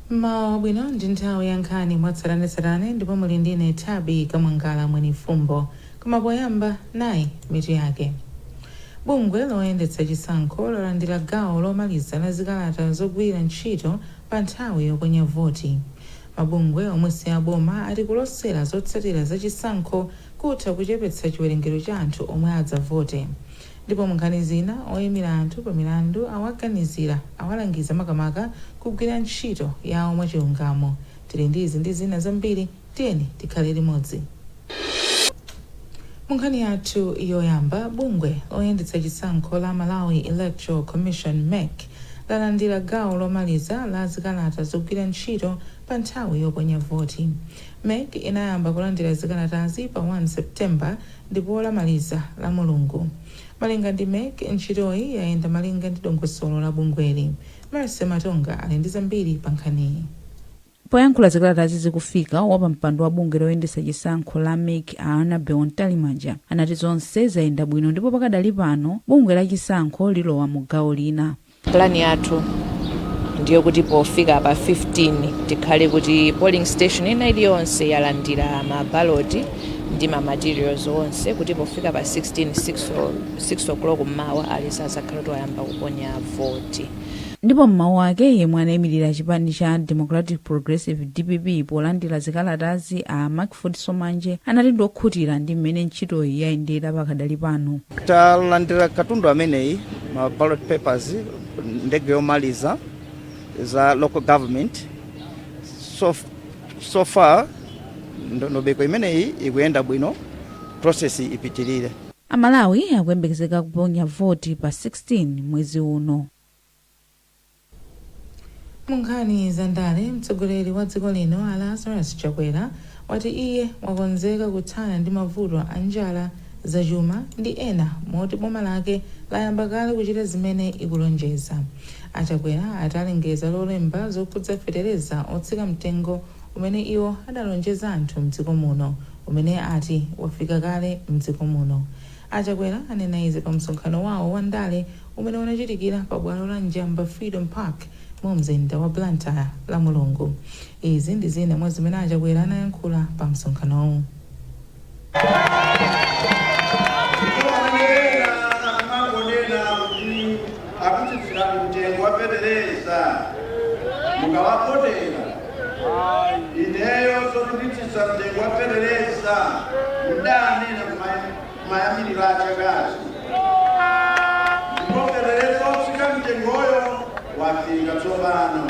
Mmawa wabwino ndi nthawi ya nkhani mwatsatanetsatane ndipo muli ndi ine Thabi Kamwangala Mwenifumbo. Koma poyamba nayi mitu yake. Bungwe loyendetsa chisankho lalandira gawo lomaliza la zikalata zogwirira ntchito pa nthawi yoponya voti. Mabungwe omwe si aboma ati kulosera zotsatira za chisankho kutha kuchepetsa chiwerengero cha anthu omwe adzavote. Ndipo mu nkhani zina, oimira anthu pa milandu awaganizira, awalangiza makamaka kugwira ntchito yawo mwachilungamo. Tili ndi izi ndi zina zambiri, tiyeni tikhale limodzi. Mu nkhani yathu yoyamba, bungwe loyendetsa chisankho la Malawi Electoral Commission, mec, lalandira gawo lomaliza la zikalata zogwira ntchito pa nthawi yoponya voti. Mec inayamba kulandira zikalatazi pa 1 September ndipo lamaliza lamulungu. Malinga ndi mec, ntchitoyi yayenda malinga ndi dongosolo la bungweli. Mercy Matonga ali ndi zambiri pa nkhaniyi. Poyankhula zikalatazi zikufika, wapampando wa bungwe loyendetsa chisankho la mec a Annabel Mtalimanja anati zonse zayenda bwino ndipo pakadali pano bungwe la chisankho lilowa mu gawo lina. Plan yathu ndiyokuti pofika pa 15 tikhale kuti polling station ina iliyonse yalandira ma ballot ndi ma materials onse kuti pofika pa 16, 6:00 mmawa aliyense azakhale kuti wayamba kuponya voti. Ndipo m'mawu ake, yemwe anayimilira chipani cha Democratic Progressive, dpp, polandira zikalatazi a Mackford Somanje anati ndiokhutira ndi m'mene ntchitoyi yayendera pakadali pano. Talandira katundu ameneyi ma ballot papers ndege yomaliza za local government so far ndondomeko imeneyi ikuyenda bwino process ipitirire Amalawi akuyembekezeka kuponya voti pa 16 mwezi uno. Munkhani za ndale, mtsogoleri wa dziko lino a Lazarus Chakwera wati iye wakonzeka kuthana ndi mavuto a njala, zachuma ndi ena moti boma lake layamba kale kuchita zimene ikulonjeza. A Chakwera ati alengeza lolemba zokhudza fetereza wotsika mtengo umene iwo adalonjeza anthu mdziko muno umene ati wafika kale mdziko muno. A Chakwera anena izi pa msonkhano wawo wa ndale umene unachitikira pa bwalo la Njamba Freedom Park mu mzinda wa Blantyre lamulungu. Izi ndi zina mwa zimene a Chakwera anayankhula pa msonkhanowu. akutsitsirani mtengo wa fetereza mukawavotera? Ineyo zoti nditsitsa mtengo wa fetereza ndidanena kumayambiliro a chakachi ndipo fetereza otsika mtengoyo wafika tsopano.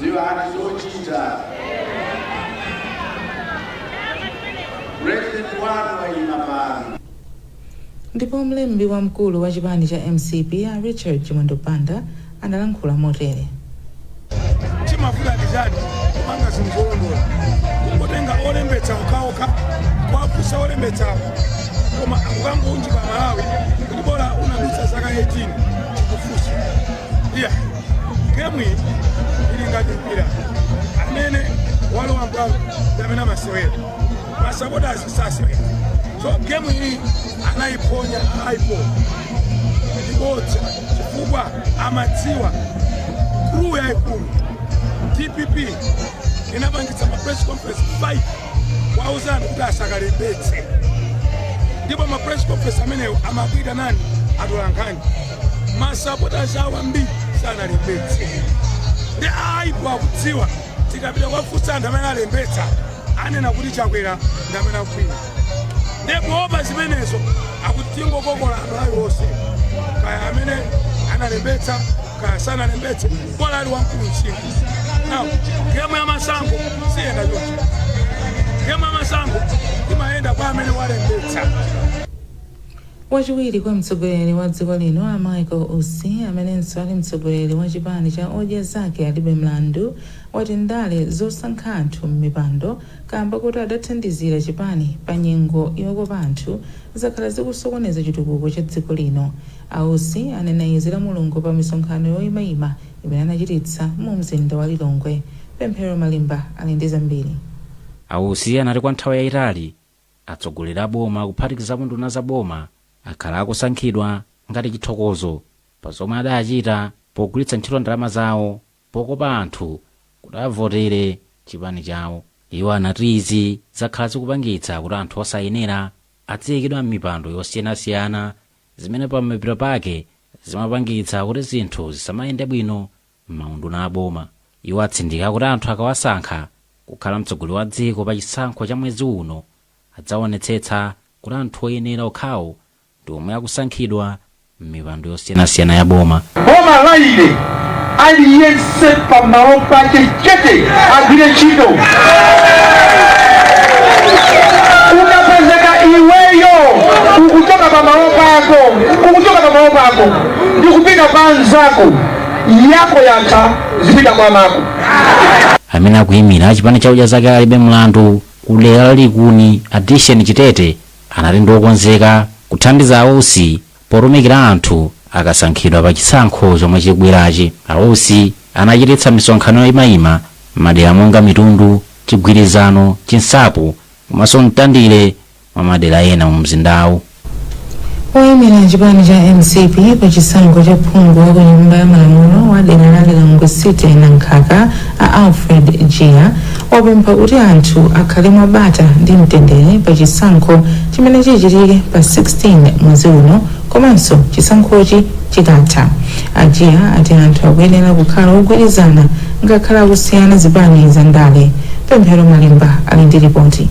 Dziwani zochita. President wanu wayima pano. Ndipo mlembi wamkulu wa chipani cha mcp a Richard Chimwendo Banda analankhula motere. chimavuta ndi chani kumanga zinthu zolondola kungotenga olembetsa okhaokha kuwafunsa olembetsawo koma akukangounjika aMalawi kuti bola unadutsa zaka 18 kufunsa iya gemu iyi ili ngati mpira amene walowa m'bwalo ndi amene amasewera masapotazi sasewera so gemu iyi anayiphonya a IPOR ndibodza chifukwa amadziwa clue yaikulu dpp inapangitsa ma press conference 5 kuwauza anthu kuti asakalembetse ndipo ma press conference amenewo amakuitanani atolankhani masapota awo ambiri sanalembetse ndiye a IPOR akudziwa tikapita kuwafunsa anthu amene alembetsa anena kuti chakwera ndi amene akufuna ndiye poopa zimenezo akuti tingokokola anthu alionse kaya amene analembetsa kaya sanalembetse bola ali wamkulu msinkhu now gemu ya masankho siyenda choncho gemu ya masankho imayenda kwa amene walembetsa Wachiwiri kwa mtsogoleri wa dziko lino a Michael Usi amenenso ali mtsogoleri wa chipani cha Odya Zake Alibe Mlandu wati ndale zosankha anthu m'mipando kaamba koti adathandizira chipani pa nyengo yokopa anthu zakhala zikusokoneza chitukuko cha dziko lino. A Usi anena izi lamulungu pa misonkhano yoimaima imene anachititsa mu mzinda wa Lilongwe. Pemphero Malimba ali ndi zambiri. A Usi anati kwa nthawi yaitali, Atsogoleri a boma kuphatikizapo nduna za boma akhala akusankhidwa ngati chithokozo pa zomwe adachita pogwiritsa ntchito ndalama zawo pokopa anthu kuti avotere chipani chawo. Iwo anati izi zakhala zikupangitsa kuti anthu osayenera adziyikidwa m'mipando yosiyanasiyana zimene pamapeto pake zimapangitsa kuti zinthu zisamayende bwino M'maunduna a boma, iwo atsindika kuti anthu akawasankha kukhala mtsogoleri wa dziko pa chisankho cha mwezi uno, adzaonetsetsa kuti anthu oyenera okhawo ndi omwe akusankhidwa m'mipando yosiyanasiyana ya boma. Boma la ine aliyense pa malo pake chete agwire ntchito. Ukapezeka iweyo ukuchoka pa malo pako ndikupita pa anzako, yako yatha zipita kwa mako amene akuyimira chipani cha odya zake alibe mlandu ku dera la likuni addison chitete anati ndi okonzeka kuthandiza a usi potumikira anthu akasankhidwa pa chisankho chomwe chikubwerachi a usi anachititsa misonkhano yoyimayima mmadera monga mitundu chigwirizano chinsapo komanso mtandire mwa madera ena mu mzindawu. Oyimira chipani cha mcp pa chisankho cha phungu wa ku nyumba ya malamulo wa dera la Lilongwe City Nankhaka a Alfred Jiya wapempha kuti anthu akhale mwa bata ndi mtendere pa chisankho chimene chichitike pa 16 mwezi uno komanso chisankhochi chikatha. A Jiya ati anthu akuyenera kukhala ogwirizana ngakhale akusiyana zipani za ndale. Pemphero Malimba ali ndi ripoti.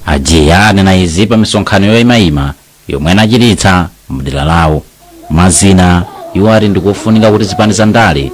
A Jiya anena izi pa misonkhano yoimaima yomwe anachititsa mdera lawo. Mwa zina, iwo ati ndikofunika kuti zipani za ndale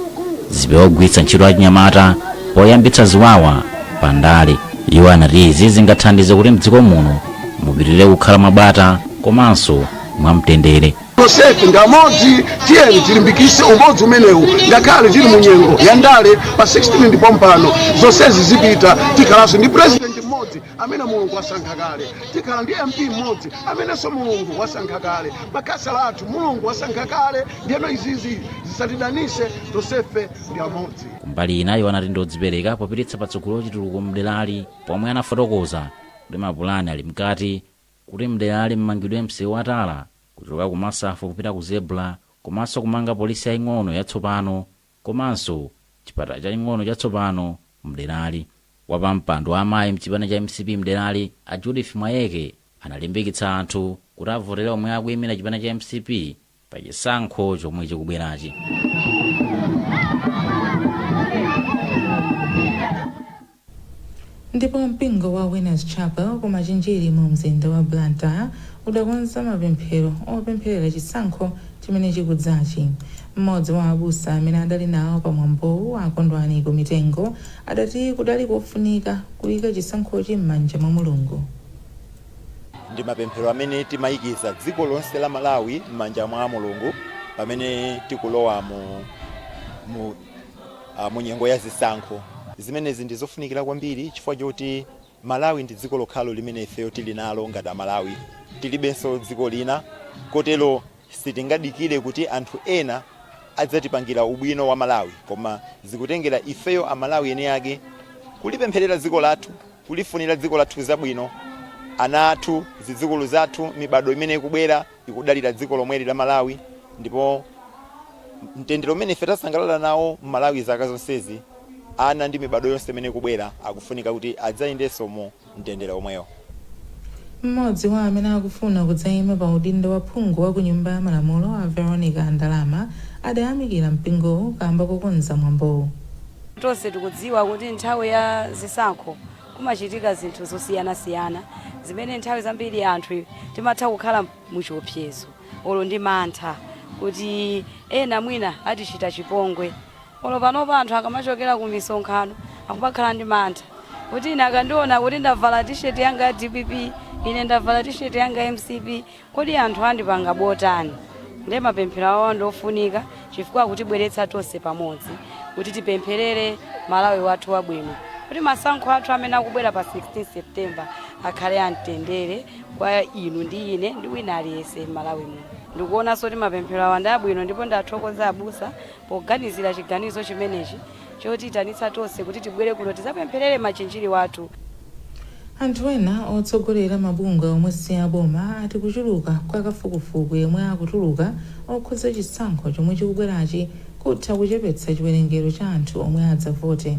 zipewe kugwiritsa ntchito achinyamata poyambitsa ziwawa pa ndale. Iwo anati izi zingathandize kuti m'dziko muno mupitilire kukhala mwa bata komanso mwa mtendere. Tonsefe nga amodzi, tiyeni tilimbikitse umodzi umenewu ngakhale tili mu nyengo ya ndale. Pa 16 ndi pompano, zonsezi zipita, tikhalanso ndi President mmodzi. amene mulungu wasankha kale tikhala ndi mp mmodzi amenenso mulungu wasankha kale makhansala athu mulungu wasankha kale ndiyeno izizi zisatidanise tonsefe ndi amodzi kumbali ina iwo anati ndi odzipereka popititsa patsogolo chitukuko mderali pomwe anafotokoza kuti mapulani ali mkati kuti mderali mmangidwe msewu wa tala kuchoka ku masafu kupita ku zebra komanso kumanga polisi yaing'ono yatsopano komanso chipatala chaing'ono chatsopano mderali. Wapampando wa amayi mchipani cha mcp mderali a Judith Mwayeke analimbikitsa anthu kuti avotele omwe akuyimira chipani cha mcp pa chisankho chomwe chikubwerachi. Ndipo mpingo wa Winners Chapel ku Machinjiri mu mzinda wa Blantyre udakonza mapemphero opempherera chisankho chimene chikudzachi. Mmodzi wa abusa amene adali nawo pa mwambowu a Kondwani Kumitengo adati kudali kofunika kuyika chisankhochi mmanja mwa Mulungu. Ndi mapemphero amene timayikiza dziko lonse la Malawi mmanja mwa Mulungu pamene tikulowa mu uh, mu nyengo ya zisankho. Zimenezi ndi zofunikira kwambiri chifukwa choti Malawi ndi dziko lokhalo limene ifeyo tili nalo ngati Amalawi, tilibenso dziko lina, kotero sitingadikire kuti anthu ena adzatipangira ubwino wa Malawi, koma zikutengera ifeyo Amalawi eni ake kulipempherera dziko lathu, kulifunira dziko lathu zabwino, ana athu, zidzukulu zathu, mibadwo imene ikubwera. ikudalira dziko lomweli la Malawi ndipo mtendere umene ife tasangalala nawo m'Malawi zaka zonsezi, ana ndi mibadwo yonse imene ikubwera akufunika kuti adzayendenso mu mtendere omwewo. M'modzi wa amene akufuna kudzaima pa udindo wa phungu wa ku Nyumba ya Malamulo a Veronica Ndalama adayamikira mpingowu kaamba kokonza mwambowu. Tonse tikudziwa kuti nthawi ya zisankho Kumachitika zinthu zosiyanasiyana zimene nthawi zambiri anthu timatha kukhala muchiopsezo olo ndi mantha kuti ena mwina atichita chipongwe. Olo panopa anthu akamachokera ku misonkhano akumakhala ndi mantha kuti ine akandiona kuti ndavala tisheti yanga ya dpp, ine ndavala tisheti yanga ya mcp, Kodi anthu andipanga bwanji? Nde mapemphero awa ndi ofunika chifukwa akutibweretsa tonse pamodzi kuti tipempherere Malawi wathu wabwino kuti masankho athu amene akubwera pa 16 September akhale a mtendere kwa inu ndi ine ndi wina aliyense m'Malawi muno. Ndikuonanso kuti mapemphero awa ndi abwino ndipo ndathokoza abusa poganizira chiganizo chimenechi. chotiitanitsa tonse kuti tibwere kuno tizapempherere Machinjiri wathu. Anthu ena otsogolera mabungwe omwe si aboma ati kuchuluka kwa kafukufuku yemwe akutuluka okhudza chisankho chomwe chikubwerachi kutha kuchepetsa chiwerengero cha anthu omwe adzavote.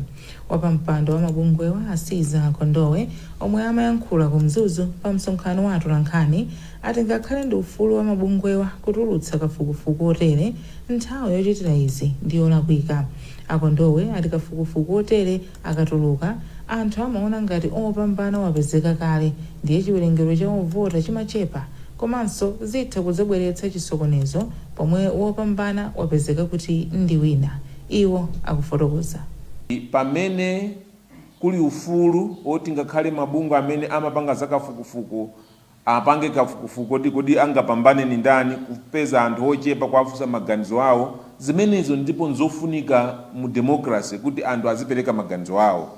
Wapampando wa mabungwewa a Caesar Kondowe omwe amayankhula ku Mzuzu pa msonkhano wa atolankhani, Ati ngakhale ndi ufulu wa mabungwewa kutulutsa kafukufuku wotere, nthawi yochitira izi ndi yolakwika. A Kondowe ati kafukufuku wotere akatuluka, anthu amaona ngati opambana wapezeka kale ndiye chiwerengero cha ovota chimachepa komanso zitha kudzabweretsa chisokonezo pomwe wopambana wapezeka kuti ndi wina, iwo akufotokoza. Pamene kuli ufulu woti ngakhale mabungwe amene amapanga za kafukufuku Apange kafukufuku oti kodi angapambane ndi ndani, kupeza anthu ochepa kuwafunsa maganizo awo, zimenezo ndipo nzofunika mu democracy kuti anthu azipereka maganizo awo,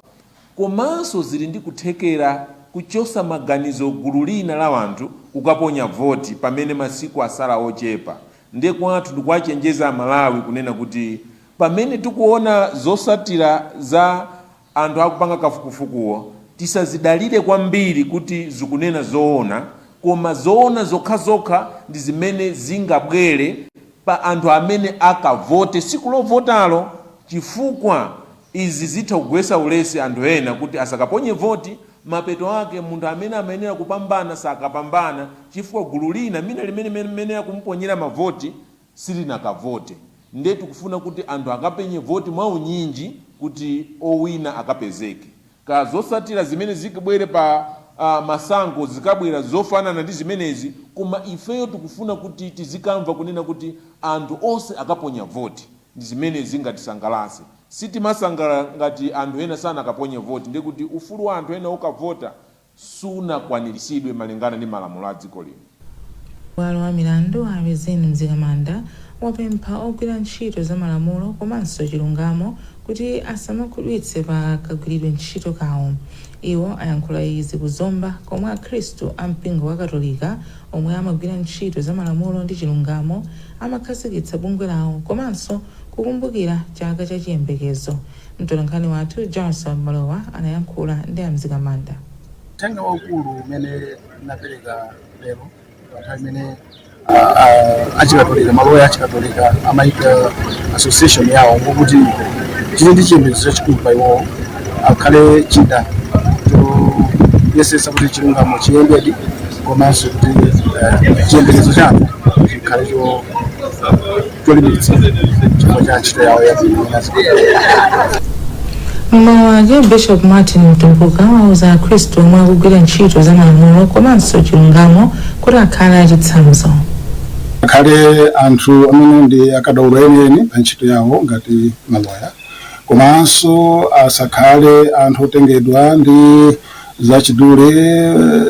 komanso zili ndi kuthekera kuchosa maganizo gulu lina la anthu kukaponya voti pamene masiku asala ochepa, nde kwathu ndikuwachenjeza amalawi kunena kuti pamene tikuona zosatira za. anthu akupanga kafukufukuwo tisazidalire kwambiri kuti zikunena zoona koma zoona zokhazokha ndi zimene zingabwere pa anthu amene akavote siku lovotalo chifukwa izi zitha kugwesa ulesi anthu ena kuti asakaponye voti mapeto ake munthu amene amayenera kupambana sakapambana chifukwa gulu lina mina limene limayenera kumuponyera mavoti silinakavote nde tikufuna kuti anthu akaponye voti mwaunyinji kuti owina akapezeke. Kaya zosatila zimene zikabwere pa masankho zikabwera zofanana ndi zimenezi koma ifeyo tikufuna kuti tizikamva kunena kuti anthu onse akaponya voti ndi zimene zingatisangalase. Sitimasangalala ngati anthu ena sanakaponye voti ndekuti ufulu wa anthu ena okavota sunakwaniritsidwe malingana ndi malamulo a dziko lino. Bwalo wa milandu a Rizine Mzikamanda wapempha ogwira ntchito za malamulo komanso chilungamo kuti asamakhumudwitse pa kagwiridwe ntchito kawo. Iwo ayankhula izi ku Zomba komwe akhristu a mpingo wa katolika omwe amagwira ntchito za malamulo ndi chilungamo amakhazikitsa bungwe lawo komanso kukumbukira chaka cha chiyembekezo. Mtolankhani wathu Jarson Malowa anayankhula ndi a Mzikamanda. Uthenga waukulu umene ndinapereka lero pa nthawi imene ah, achikatolika maloya achikatolika amayika association yawo ngokuti tili ndi chiyembekezo chachikulu pa iwowo akhale chida choyesesa kuti chilungamo chiyendedi komanso kuti eh, chiyembekezo chathu chikhale cho cholimbitsa chifukwa cha ntchito yawo yabwino inazikagwira mmawu ake bishop martin mtumbuka awauza akhristu omwe akugwira ntchito za malamulo komanso chilungamo kuti akhale achitsanzo akhale anthu amene ndi akadaulo enieni pa ntchito yawo ngati maloya komanso asakhale anthu otengedwa ndi zachidule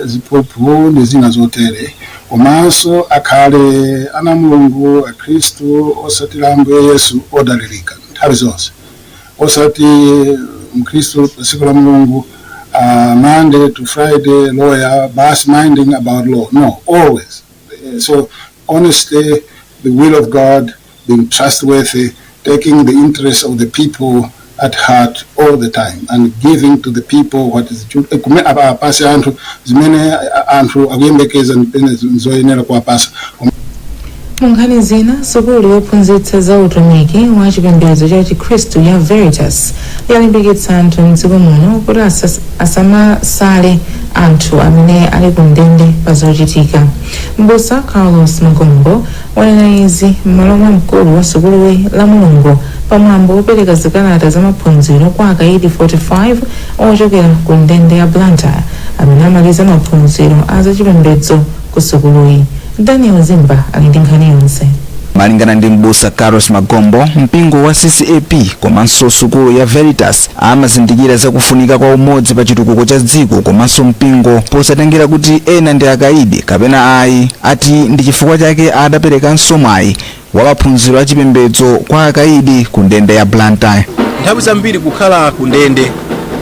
ziphuphu ndi zina zotere komanso akhale ana a mulungu akhristu osatira ambuye yesu odalirika nthawi zonse osati mkhristu pa tsiku la mulungu uh, monday to friday lawyer bas minding about law no always so honesty the will of god being trustworthy, taking the interests of the people at heart all the time and giving to the people what is due. Eh, kume- apa- apase anthu zimene a- anthu akuyembekeza ndiponso zoyenera kuwapasa mu nkhani zina sukulu yophunzitsa za utumiki wa chipembedzo cha chikhristu ya veritas yalimbikitsa anthu mdziko muno kuti asas- asamasale anthu amene ali ku ndende pa zochitika mbusa carlos magombo wanena izi m'malo mwa mkulu wa sukuluyi lamulungu pa mwambo wopereka zikalata za maphunziro kwa akayidi 45 ochokera ku ndende ya blantyre amene amaliza maphunziro a zachipembedzo ku sukuluyi daniel zimba ali ndi nkhani yonse malingana ndi m'busa carlos magombo mpingo wa ccap komanso sukulu ya veritas Amazindikira za kufunika kwa umodzi pa chitukuko cha dziko komanso mpingo posatengera kuti ena ndi akaidi kapena ayi ati ndi chifukwa chake adaperekanso mwayi wa maphunziro a chipembedzo kwa akaidi ku ndende ya Blantyre. Nthawi zambiri kukhala ku ndende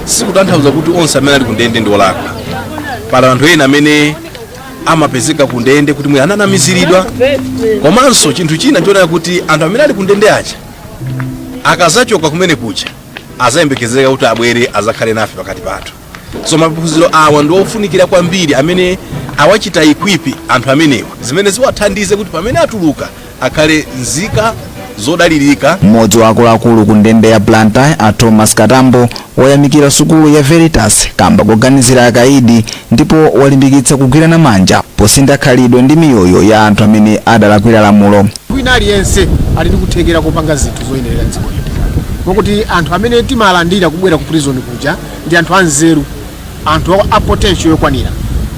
sikutanthauza kuti onse amene ali ku ndende ndi olakwa. Pali anthu ena amene amapezeka ku ndende kuti mwina ananamiziridwa komanso chinthu china chonena kuti anthu amene ali ku ndende aja akazachoka kumene kuja azayembekezeka kuti abwere azakhale nafe pakati pathu so maphunziro awa ndi ofunikira kwambiri amene awachita equip anthu amenewa zimene ziwathandize kuti pamene atuluka akhale nzika zodalirika mmodzi wa akuluakulu ku ndende ya blantyre a thomas katambo wayamikira sukulu ya veritas kamba koganizira akaidi ndipo walimbikitsa kugwirana manja posintha khalidwe ndi miyoyo ya anthu amene adalakwira lamulo Wina aliyense ali ndi kuthekera kopanga zinthu zoyenerera dziko lino moti anthu amene timalandira kubwera ku prison kuja ndi anthu anzeru, anthu a potential yokwanira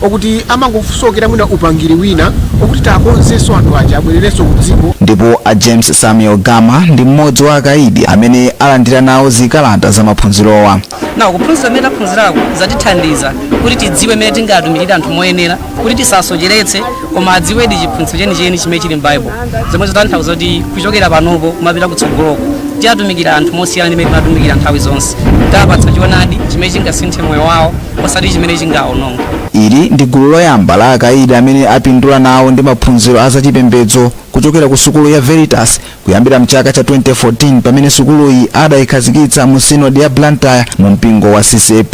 okuti amangofusokera mwina upangiri wina okuti tiwakonzenso anthu aja abwererenso ku dziko. Ndipo a James Samuel Gama ndi m'modzi wa akaidi amene alandira nawo zikalata za maphunzirowa. na kuphunzira kumene taphunzirako zatithandiza kuti tidziwe mmene tingatumikire anthu moyenera kuti tisasocheretse koma adziwedi chiphunzitso chenicheni chimene chili m'baibulo zomwe zikutanthauza kuti kuchokera panopo kumapita kutsogoloko tiwatumikira anthu mosiyana ndi mmene timatumikira nthawi zonse tiwapatsa choonadi chimene chingasinthe moyo wawo osati chimene chingawononga ili ndi gulu loyamba la akaidi amene apindula nawo ndi maphunziro a zachipembedzo kuchokera ku sukulu ya veritas kuyambira mchaka cha 2014 pamene sukuluyi adayikhazikitsa mu sinodi ya blantyre mu mpingo wa ccap